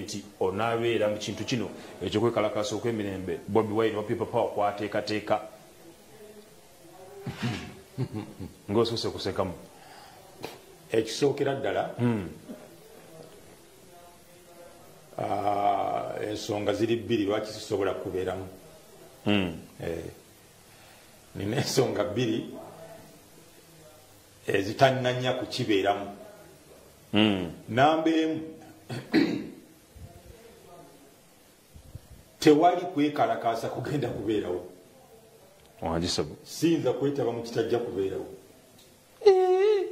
nti onaabeera mu kintu kino ekyokwekalakaasa okw'emirembe bobi wine wa people power kwateekateeka ngaosoose kusekamu ekisookera ddala hmm. ah, ensonga ziri bbiri lwaki sisobola kubeeramu hmm. eh, nina ensonga bbiri ezitannanya kukibeeramu hmm. namba emu tewali kwekalakaasa kugenda kubeerawo siyinza kwetaba mu kitajja kubeerawo eh.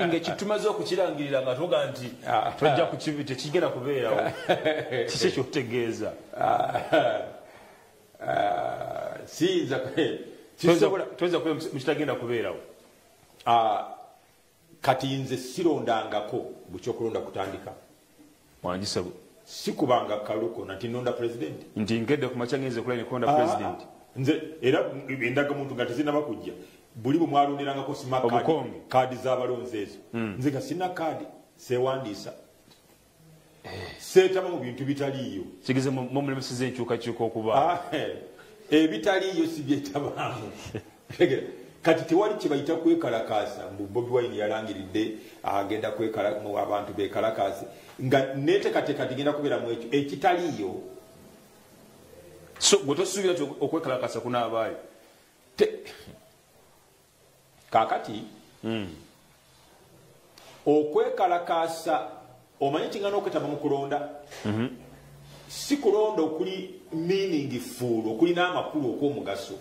ngekitumaze okukirangirira nga tuga nti ah. tojja tekigenda kubeerawo kiki ekyokutegeeza ah. Ah. siyinza toyinza kubeera mukitagenda kubeerawo kati nze sirondangako bukya okulonda kutandika wangisebo sikubanga kaluko nati nonda president nti ngedde kumakya ngenze kulaine kulonda ah, president nze era endaga muntu nga tezinaba kujja buli bwe mwalonderangako sima kaadi z'abalonzi ezo hmm. nze nga sina kaadi sewandiisa seetaba mu bintu bitaliiyo kigeze mumulemeseza enkyukakyuka okuba ah, eh, ebitaliiyo si byetabaamu kati tewali kyebayita kwekalakaasa mbu bobi wine yalangiridde agenda abantu bekalakaase nga netekateka tigenda kubeera mu ekyo ekitaliiyo so gwe tosuubira ti okwekalakaasa kunaabaayo kakati mm. okwekalakaasa omanyi kingana okwetaba mu kulonda mm -hmm. si kulonda okuli meaning fuulu okulina amakulu okw'omugaso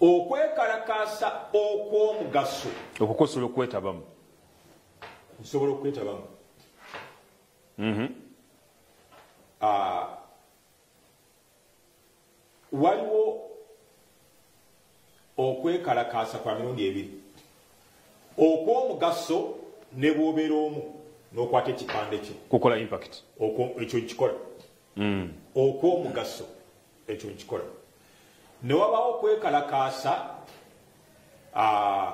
okwekalakaasa okw'omugaso okukosobola okwetabamu nsobola okwetabamu mm -hmm. uh, waliwo okwekalakaasa kwa mirundi ebiri okw'omugaso ne bwobeera omu n'okwata ekipande kyo kukola impact ekyo nkikola hmm. okw'omugaso ekyo nkikola ne wabaawo okwekalakaasa ah,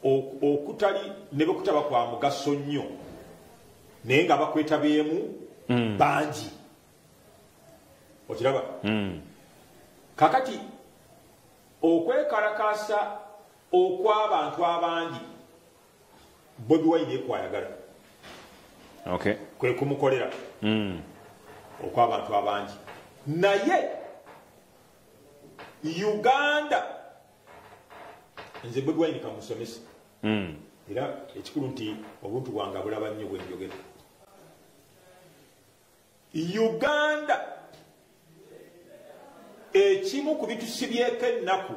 okutali ne bwekutaba kwa mugaso nnyo naye nga bakwetabyemu mm. bangi okiraba mm. kakati okwekalakaasa okw'abantu abangi bobi wine ekwayagala okay. kwe kumukolera mm. okw'abantu abangi naye uganda nze bwebwaini kamusomesa hmm. era ekikulu nti obuntu bwange abulaba nnyo bwenjogera uganda ekimu ku bitusibyeko ennaku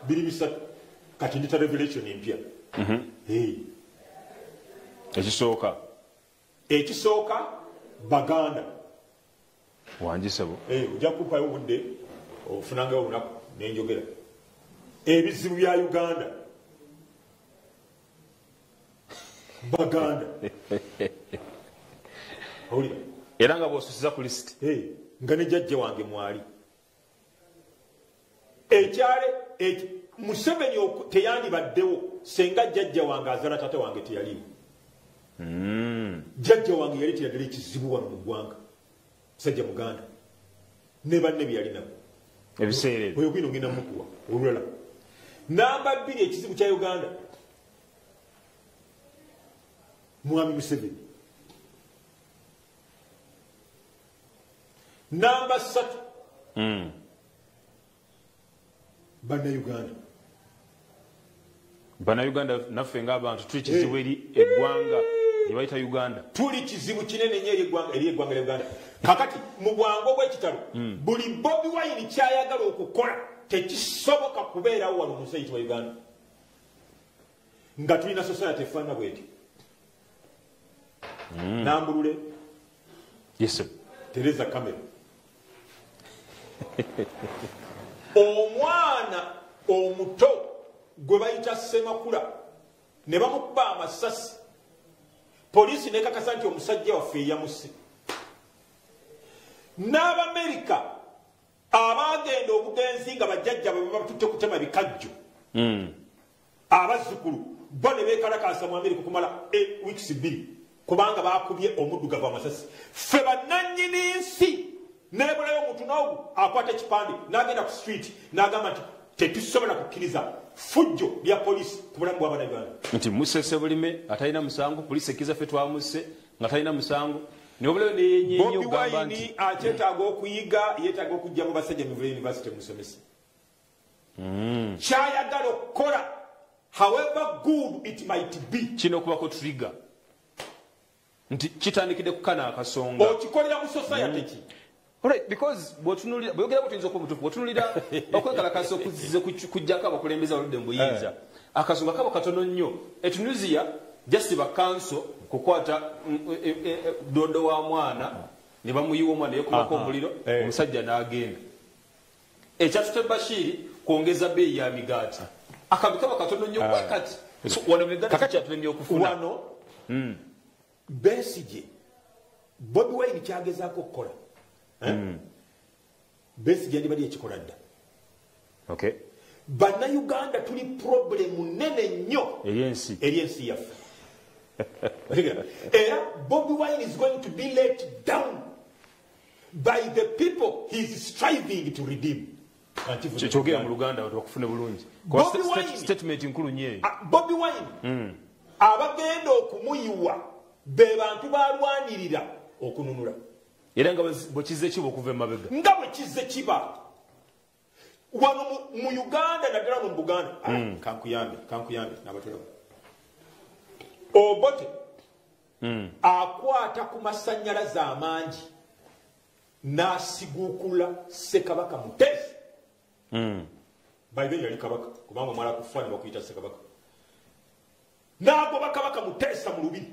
biri bisatu kati ndita revelation empya mhm. ekisooka ekisooka baganda wangi sebo eh, ojja kupayo obudde ofunangayo olunaku nenjogera ebizibu bya uganda baganda era nga bwosusiza ku lisiti eh, nga nejajja wange mwali ekyale museveni teyandibaddewo senga jajja wange azala tata wange teyaliwo hmm. jajja wange yali teyadala ekizibu wano mu ggwanga sajja muganda ne banne byeyalinabo ebiseera oyo kwina ogenda mukuwa olulala namba bbiri ekizibu kya uganda mwami museveni namba satu mm. banauganda banauganda naffe ngaabantu tuli kizibu eri eh. eggwanga ebayita uganda tuli kizibu kinene nyo eri eggwanga lya uganda kakati mu bwangu obwekitalo mm. buli bobi wayini kyayagala okukola tekisoboka kubeerawo wano mu nsi eyitibwa uganda nga tulina society efaana bweti mm. nambulule yes, tereza kamera omwana omuto gwe bayita semakula ne bamukuba amasasi poliisi nekakasa nti omusajja waffe eyamusi n'abamerika abaagenda obugenzi nga bajjajja bwe babatutte kutema bikajjo mm. abazzukulu bo ne beekalakaasa mu amerika okumala e wiikisi bbiri kubanga baakubye omuddugavu amasasi ffe bannannyini nsi nebulayo omuntu noogu akwata ekipande n'agenda ku street n'agamba nti tetusobola kukkiriza fujjo lya poliisi ku bulamu bw'abana uganda nti musese bulime atalina musango poliisi ekkiriza ffe twamusse nga talina musango bobi wayini akyetaaga okuyiga yetaaga okujja mu basajja mivula university musomesa mm. kyayagala okukola however good it might be kino kubako trigger nti kitandikidde kukana akasonga okikolera mu society ki mm. Right, because bwotunulira bwogera bwo tuyinza okumutufu bwotunulira okwekalakasa okuzize kujjako abakulembeza baludde mubuyinza eh. akasonga kabo katono nnyo etunisia just bakanso kukwata mm, eh, eh, eh, dodo wa mwana ne bamuyiwa omwana yekumako omuliro omusajja n'agenda Ekyatutte Bashir kwongeza bbeeyi ya migaati. Akambi kaba katono nnyo kuba ah. kati wano migaati kikyatulemye okufuna. Wano hmm. Besigye Bobi Wine kyagezaako okukola. Eh? Hmm. Besigye yandibadde yakikola dda. Okay. Bannayuganda tuli purobulemu nnene nnyo eri ensi yaffe. Era Bobi Wine is going to be let down. by the people he is striving to redeem kyogera mu luganda watu bakufune bulungi statement nkulu nyeyo ah, bobi wine hmm. abagenda okumuyiwa be bantu balwanirira okununula era nga bwekize kiba okuva emabega nga bwekize kiba wano mu uganda naddala no mu buganda ah, mm. kankuyambe kankuyambe nabatolamu obote mm. akwata ku masanyalaze amangi nasiguukula sekabaka mutezi mm. baiberi yali kabaka kubanga omwala kufa ne bakuyita sekabaka nagoba kabaka muteesa mu lubiri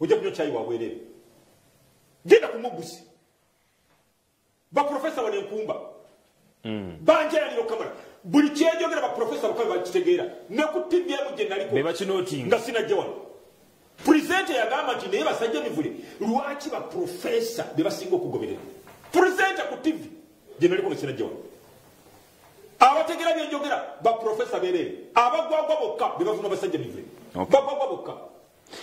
ojja kunywa kyayi wabwerere genda ku mugguzi baprofesa wano enkumba mm. banjayanira okamala buli kyenjogera baprofesa bakabe bakitegeera ne ku tivi emu gye naliko nga sinajja wano purezenta yagamba nti naye basajja mivule lwaki baprofesa be basinga okugoberera purezenta ku tivi gye naliko nga sinajja wano abategera byenjogera baprofesa bereere abagwagwa bokka be bavuma basajja mivule bagwagwa bokka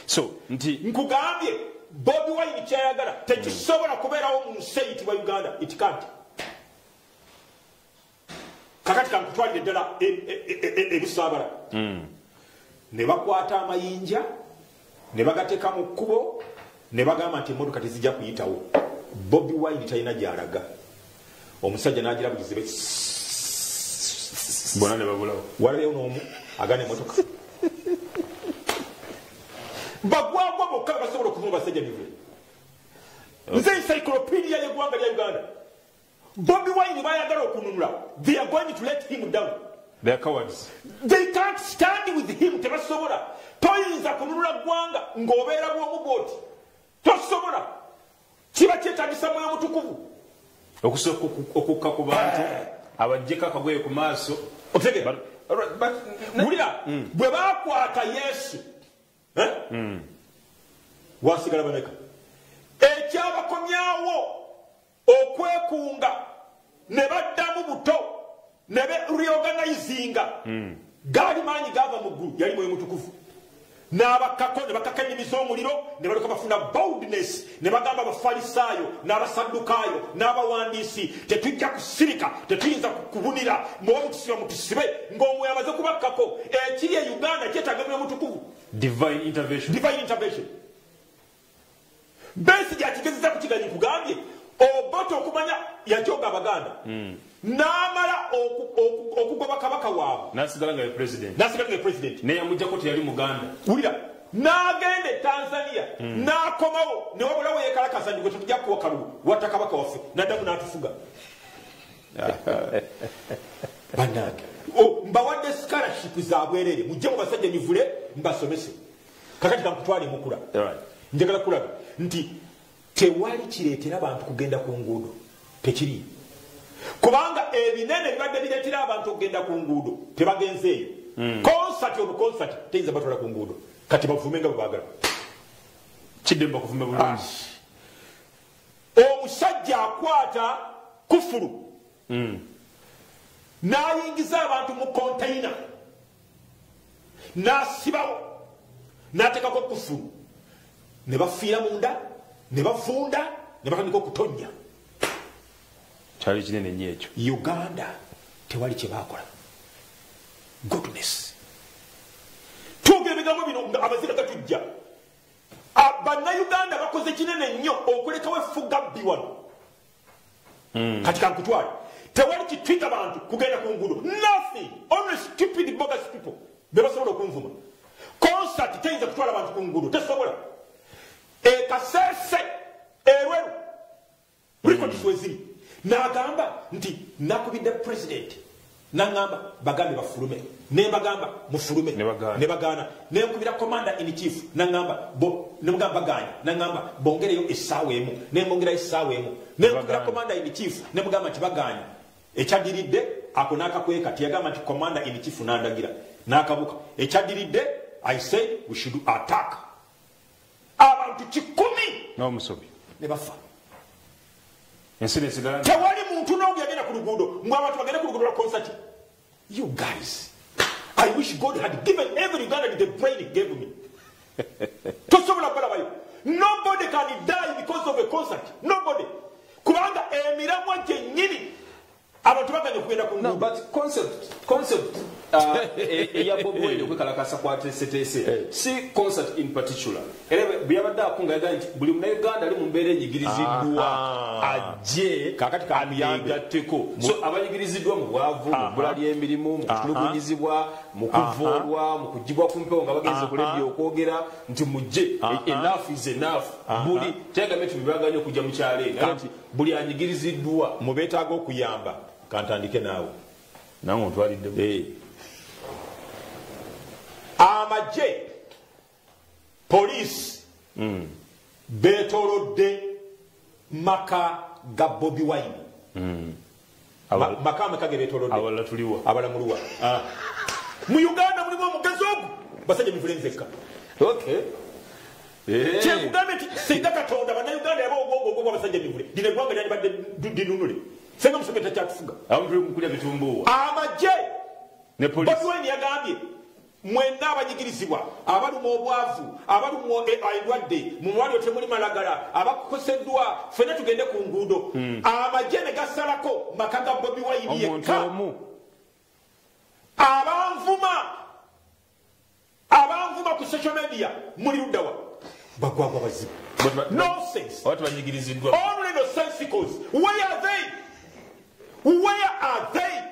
so nti nkugambye bobi wine kyayagala tekisobola kubeerawo mu nsi eyitibwa uganda itikadi kakati kankutwalire ddala ebisaabala e, e, e, hmm. ne bakwata amayinja ne bagateeka mu kkubo ne bagamba nti emmotoka tezijja kuyitawo bobi wine talina gyalaga omusajja nagira buzibe bona ne babulawo walabeyo noomu agana emotoka bagwagwa bokka basobola okuvuma basajja bive nze encyclopedia yegwanga lya uganda bobi wine bayagala okununula they are going to let him down they are cowards they can't stand with him tebasobola toyinza kununula gwanga ng'obeera bwomu bwoti tosobola Kiba kyetagisa mwoyo mutukuvu okusooka okukka ku bantu abajjeko akagoye ku maaso wulira mm. bwe bakwata yesu eh? mm. wasigala bameka ekyabakomyawo okwekunga ne baddamu buto ne be reorganizinga hmm. gaali maanyi gaava mu ggulu yali mwoyo mutukuvu n'abakkako ne bakaka ennimi z'omuliro ne balyoka bafuna boldness ne bagamba abafalisaayo n'abasaddukaayo n'abawandiisi tetujja kusirika tetuyinza kubunira muba mutusiba mutusibe ng'omwoyo amaze kubakkako ekiri e uganda kyetaaga mwoyo mutukuvu divine intervention, divine intervention. besi gyakigezeza kukiganyi kugambye obote okumanya yajoga abaganda hmm. namala okugoba kabaka waabwe nasigala nga president neyamujjako teyali muganda wulira nagenda e tanzania hmm. nakomawo newabulawo yekalakaza ndigwe tetujja kuwa kalulu watta kabaka waffe naddamu natufuga banange mbawadde scholarship zabwerere mujje mu basajja nyivule mbasomese kakati kakutwala emukula njagala kulaga nti tewali kireetera bantu kugenda ku nguudo tekiri kubanga ebinene bibadde bireetera abantu okugenda ku nguudo tebagenze eyo hmm. konsati obu konsati teyinza batwala ku nguudo kati bavume nga bwebagala kiddemba okuvume bulungi ah. omusajja akwata kufulu hmm. n'ayingiza abantu mu konteyina n'asibawo n'ateekako kufulu ne bafiira munda ne bavunda ne batandika okutonnya kyali kinene nnyo ekyo uganda tewali kye baakola goodness twogera ebigambo bino nga amazina gatujja bannayuganda bakoze kinene nnyo okulekawo effugabbi wano mm. kati kankutwale tewali kitwita bantu kugenda ku ngudo nothing only stupid bogus people bebasobola okunvuma concert teyinza kutwala bantu ku ngudo tesobola ekasese erweru records mm. weziri nagamba nti nakubidde president nangamba bagambe bafulume nembagamba mufulume nebagaana nenkubira commander in chief nangamba nemugamba baganye nangamba bongereyo essaawa emu nembongerayo essaawa emu nenkubira commander in chief nemugamba nti baganye ekyadiridde ako nakakweka tiyagamba nti commander in chief nandagira nakabuka ekyadiridde i said we should attack abantu kikumi n'omusobi ne bafa ensi nesigala tewali muntu n'omu yagenda ku luguudo mbu abantu bagende ku luguudo lwa konsati you guys i wish god had given every uganda the brain it gave me tosobola kulabayo nobody can die because of a concert nobody kubanga emiramwa gyennyini abantu baganye okugenda ku no, but concept concept uh, e, eya bob wine okwekalakasa kwateeseteese eh. si concert in particular era bweyabadde akunga yagaa nti buli munauganda ali mu mbeera enyigiriziddwa ajje ayegatteko so abayigiriziddwa mu bwavu mu bbula ly'emirimu mu kutulugunyizibwa mu kuvoolwa mu kugibwa ku mpewo nga bagenze okulebya okwogera nti mujje enafu is enafu buli teyagambe nti bebaganye okujja mu kyalo eno buli anyigiriziddwa mu beetaaga okuyamba kantandike naawe nange ontwalidde eh. amagye poliisi hmm. beetolodde maka ga bobi wine hmm. makame kage betolode abala tuliwa abala muluwa ah mu uganda mulimu omugazi ogu basajja mivule nzekka okay eh. kyekugambe nti singa katonda bannayuganda yaba ogwogwogwa basajja mivule lino eggwanga lyalibadde dinunule senga museveni takyatufuga amagye ne polisi yagambye mwenna abanyigirizibwa abalumwa obwavu abalumwa e, endwadde mu malwaliro temuli malagala abakoseddwa fena tugende ku nguudo hmm. amagye ne gasalako maka ga bobi wayini yekka abanvuma abanvuma ku social media muli luddawa bagwagwa bazibu nonsensonulino sensicals where are they where are they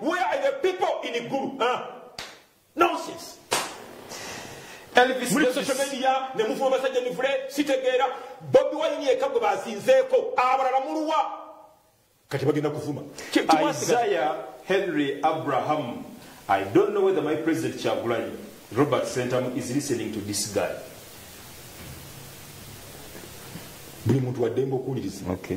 Where are the people in the guru? Huh? Nonsense. Elvis muli social media ne mufu abasajja mivule sitegeera Bobi Wine yeka gwe bazinzeeko abalala muluwa kati bagenda kuvuma Isaiah Henry Abraham I don't know whether my president Kyagulanyi Robert Sentamu is listening to this guy buli muntu waddembe okuwuliriza okay.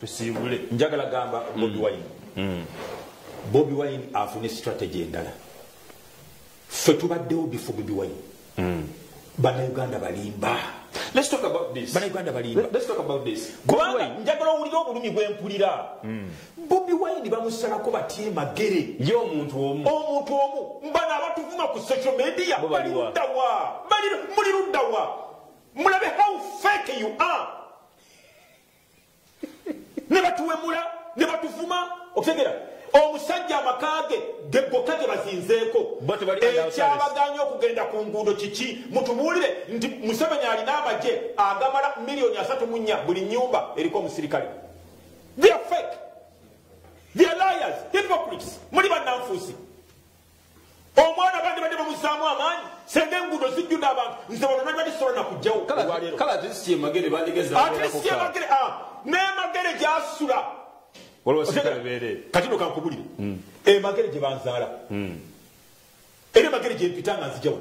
tusiibule njagala gamba bobi mm. wine mm. bobi wine afune strategy endala ffe tubaddewo bifo bobi wine mm. banauganda balimba banauganda balimbakubanga njagala owulira obulumi bwempulira bobi wine bamusalako batya emagere ye omuntu omu omuntu omu mbano abatuvuma ku social media bali luddawa muli luddawa mulabe how fake you are ne batuwemula ne batuvuma okutegera omusajja amakaage gegokka ge bazinzeeko ekyabaganya okugenda ku nguudo kiki mutubuulire nti museveni alina amagye agamala miliyoni asatu mu nnya buli nyumba eriko omusirikale they're fake they're liars hypocrites muli bannanfuusi omwana bandibadde bamuzaamu amaanyi senga enguudo zijjudde abantu nze bano nabibadde sobola nakujjawo olwaleeroatlistmagere ah, nemagere gyasula katino kankubulire hmm. emagere eh, gye banzaala hmm. era emagere gyempita nga nzijawo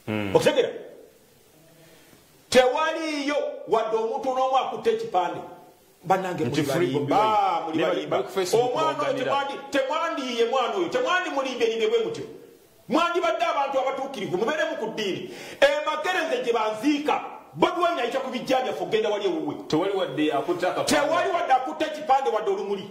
hmm. okitegera tewaliiyo wadde omuntu n'omu akutte ekipande banange muli balimba muli balimba omwana oyo temwandi temwandiyiye mwana oyo temwandi mulimbye limbye bwe mutyo mwandibadde abantu abatuukirivu mubeeremu ku ddiini emakereze gye banziika bobiwani ayita ku bijja byaffe okugenda wali ewuwe tewali wadde akutte ekipande wadde olumuli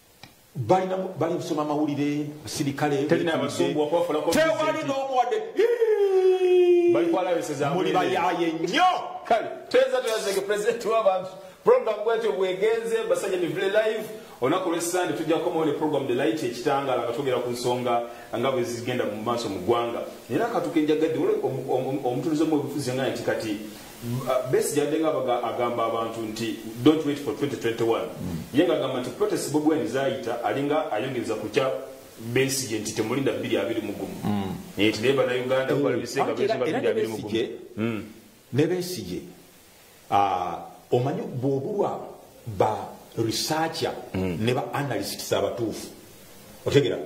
balina bali kusoma mawulire sirikale tewali n'omuwadde muli bayaye nnyo kale teza tuyazege pulezidenti w'abantu programu bwetyo bwegenze basajja mivule live olunaku lwessande tujja kukomawo ne programu the light ekitangala nga twogera ku nsonga nga bwe zigenda mu maaso mu ggwanga naye akatuka enjagadde omutulize omu obufuzi nga nti kati Besigye abadde nga abaga- agamba abantu nti don't wait for 2021 ye nga agamba nti protest bobi wine zayita alinga ayongereza ku kya besigye nti temulinda bbiri abiri mu gumu naye nti naye banauganda balabise nga Anti era- besigye era babiri abiri mu gumu Besigye- ne besigye ah, omanyi bwobulwa ba researcher ne ba analysts abatuufu otegera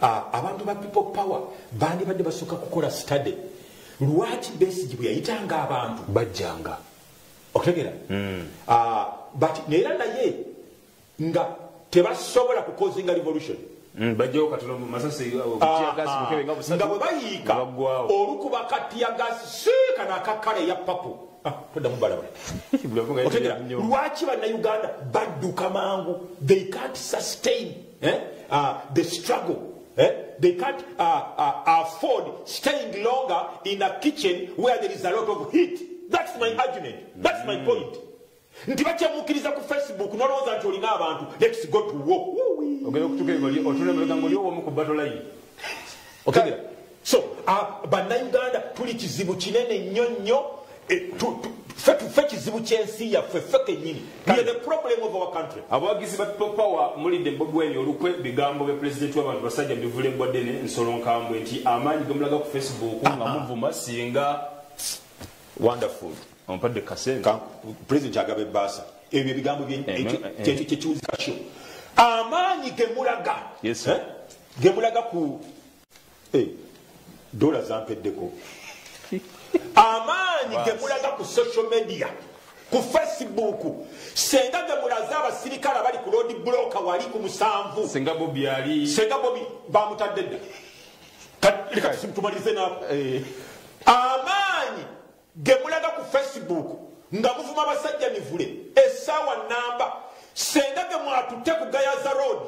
Ah, abantu ba people power bandibadde basooka kukola study lwaki besigi bwe yayitanga abantu bajjanga okutegera hmm. ah, but neera naye nga tebasobola kukozinga revolution hmm, nga bwe bayiika olukuba katiyagasi siika nakakkala eya papu ah, toddamu balaba otegera lwaki bannauganda badduka mangu they can't sustain eh, ah, the struggle Eh? They can't uh, uh, afford staying longer in a kitchen where there is a lot of heat. That's my argument. That's my mm. point. nti bakyamukiriza ku facebook nolowooza nti olina abantu lets go to war ogenda okutuka ebali otula emabega ngaoli owomu ku batolayi okebera so uh, bannayuganda tuli kizibu kinene nnyo nnyo ffe kizibu kyensi yaffe ffe kenyini abawagizi ba people power mulidde mbogweni olukwe bigambo bya pulezidenti wabantu basajja bivula eggwa ddene nsolo nkambwe nti amaanyi gemulaga ku facebook nga muvuma singa wonderful ompadde kasente pulezidenti agaba ebbaasa ebyo ebigambo kyekiwuzikasho amaanyi gemulaga gemulaga ku eh, dola zampeddeko amaanyi gemulaga ku social media ku facebook senga gemulaze abasirikale abali ku lodi buloka wali ku musanvu senga bobi ali senga bobi bamutadde dda leka tumalirize nako eh. amaanyi gemulaga ku facebook nga muvuma abasajja mivule esaawa namba senga gemwatutte ku gayaza road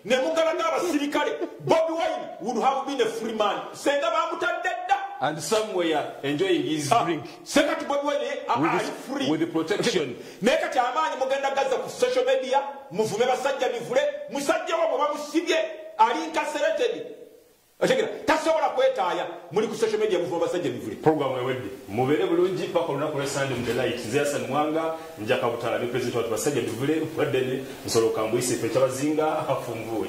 nemugalaga abasirikale bobi wine would have been a free man senga bamutadde dda and somewhere enjoying his ah, drink sekati bobi wine ali free with the protection naye kati amaanyi mugenda gaza ku social media muvume basajja mivule musajja wabwe bamusibye ali incarcerated otegera tasobola kwetaaya muli ku social media muvuma basajja mivule program ewedde mubeere bulungi paka olunaku lwa sande mu the light zeyasan mwanga njaka butala ne president watu basajja mivule waddene nsolo kambuyise fe kyabazinga afunvuwe